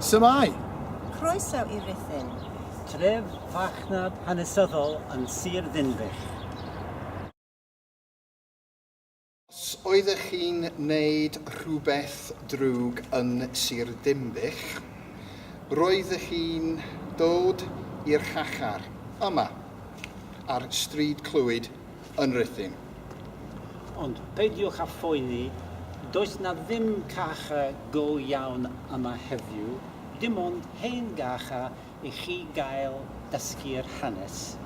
Su'mai! Croeso i Rhuthun. Tref farchnad hanesyddol yn Sir Ddinbych. Os oeddech chi'n neud rhywbeth drwg yn Sir Ddinbych, roeddech chi'n dod i'r Chachar, yma, ar Stryd Clwyd, yn Rhuthun. Ond peidiwch â phoeni, does 'na ddim cacha go iawn yma heddiw, dim ond hen gacha i chi gael dysgu'r hanes.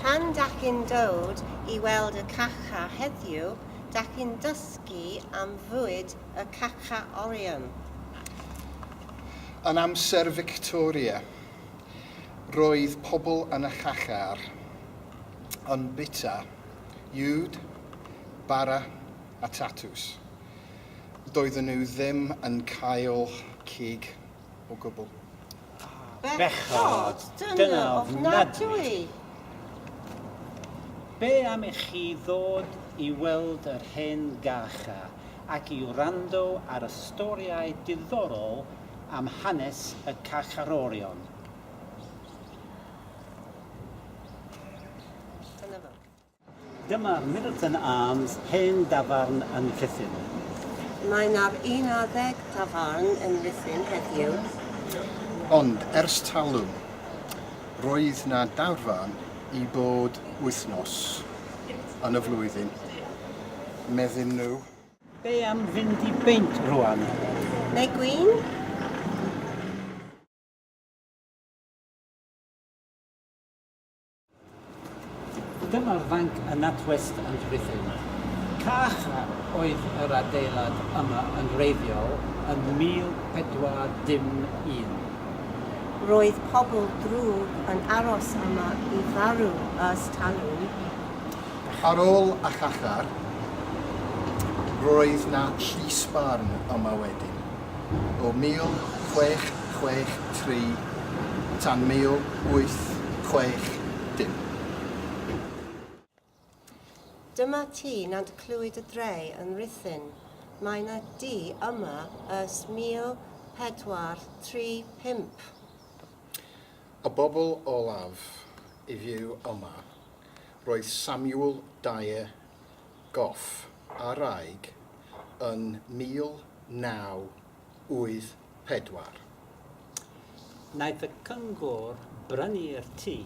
Pan dach chi'n dod i weld y cacha heddiw, dach chi'n dysgu am fwyd y cacha orion. Yn amser Fictoria. Roedd pobl yn y Chacher yn bwyta uwd, bara a tatws. Doedden nhw ddim yn cael cig o gwbl. Bechod! Dyna ofnadwy! Be am i chi ddod i weld yr hen Gacher ac i wrando ar y storïau diddorol am hanes y carcharorion. Dyma Milton Arms, hen dafarn yn Rhuthun. Mae na'r un adeg tafarn yn Rhuthun heddiw. Ond ers talwm, roedd na dafarn i bob wythnos yn y flwyddyn, medden nhw. Be am fynd i beint rwan? Neu gwin? Dyma'r fanc yn NatWest yn Rhuthun. Cach oedd yr adeilad yma yn wreiddiol yn 1401. Roedd pobl drwg yn aros yma i farw ers talwm. Ar ôl achachar, roedd 'na llys barn yma wedyn, o 1663 tan 1860. Dyma ti, nad clywyd y dre yn Rhuthun, mae 'na du yma ers 1435. Y bobl olaf i fyw yma Roedd Samuel Dyer Gough ar aig yn 1984. Wnaeth y Cyngor brynu'r tŷ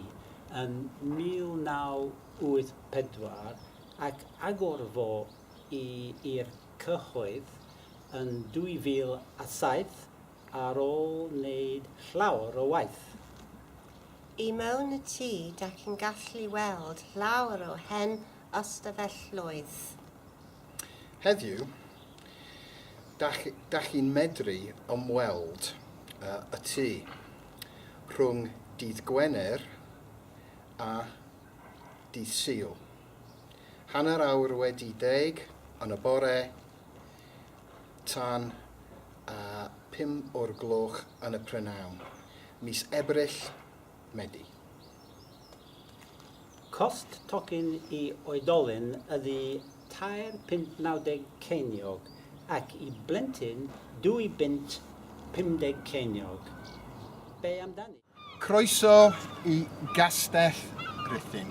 yn 1984 ac agor fo i'r cyhoedd yn 2007 Ar ôl neud llawer o waith. I mewn y tŷ dach chi'n gallu weld llawer o hen ystafelloedd. Heddiw, dach dach chi'n medru ymweld â y tŷ rhwng dydd Gwener a dydd Sul. Hanner awr wedi deg yn y bore, tan a phum o'r gloch yn y prynawn, mis Ebrill, Medi. Cost tocyn i oedolyn ydy tair punt nawdeg ceiniog ac i blentyn dwy bunt pumdeg ceiniog. Be amdani? Croeso i Gastell Rhuthun.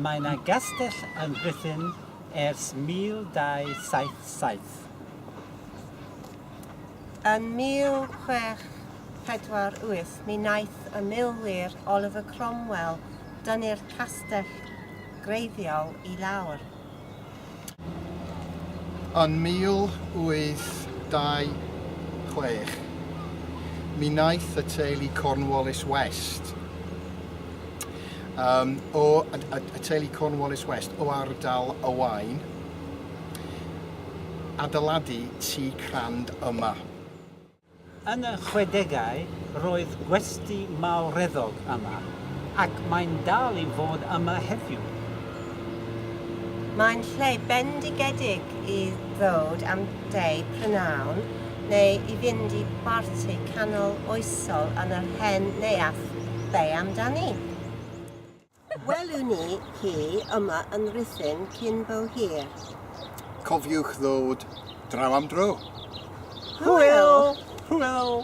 Mae na gastell yn Rhuthun ers 1277. Yn 1648 mi wnaeth y milwyr Oliver Cromwell dynnu'r castell greiddiol i lawr. Yn 1826, mi wnaeth y teulu Cornwallis West, um, o, y, y, y teulu Cornwallis West o ardal y Wain, adeiladu tu crand yma. Yn y chwedegau roedd gwesty mawreddog yma, ac mae'n dal i fod yma heddiw. Mae'n lle bendigedig i ddod am de prynhawn neu i fynd i barti canol oesol yn yr hen neuadd Be' amdani? Welwn ni hi yma yn Rhuthun cyn bo hir. Cofiwch ddod draw am dro. Hwyl! Hwyl!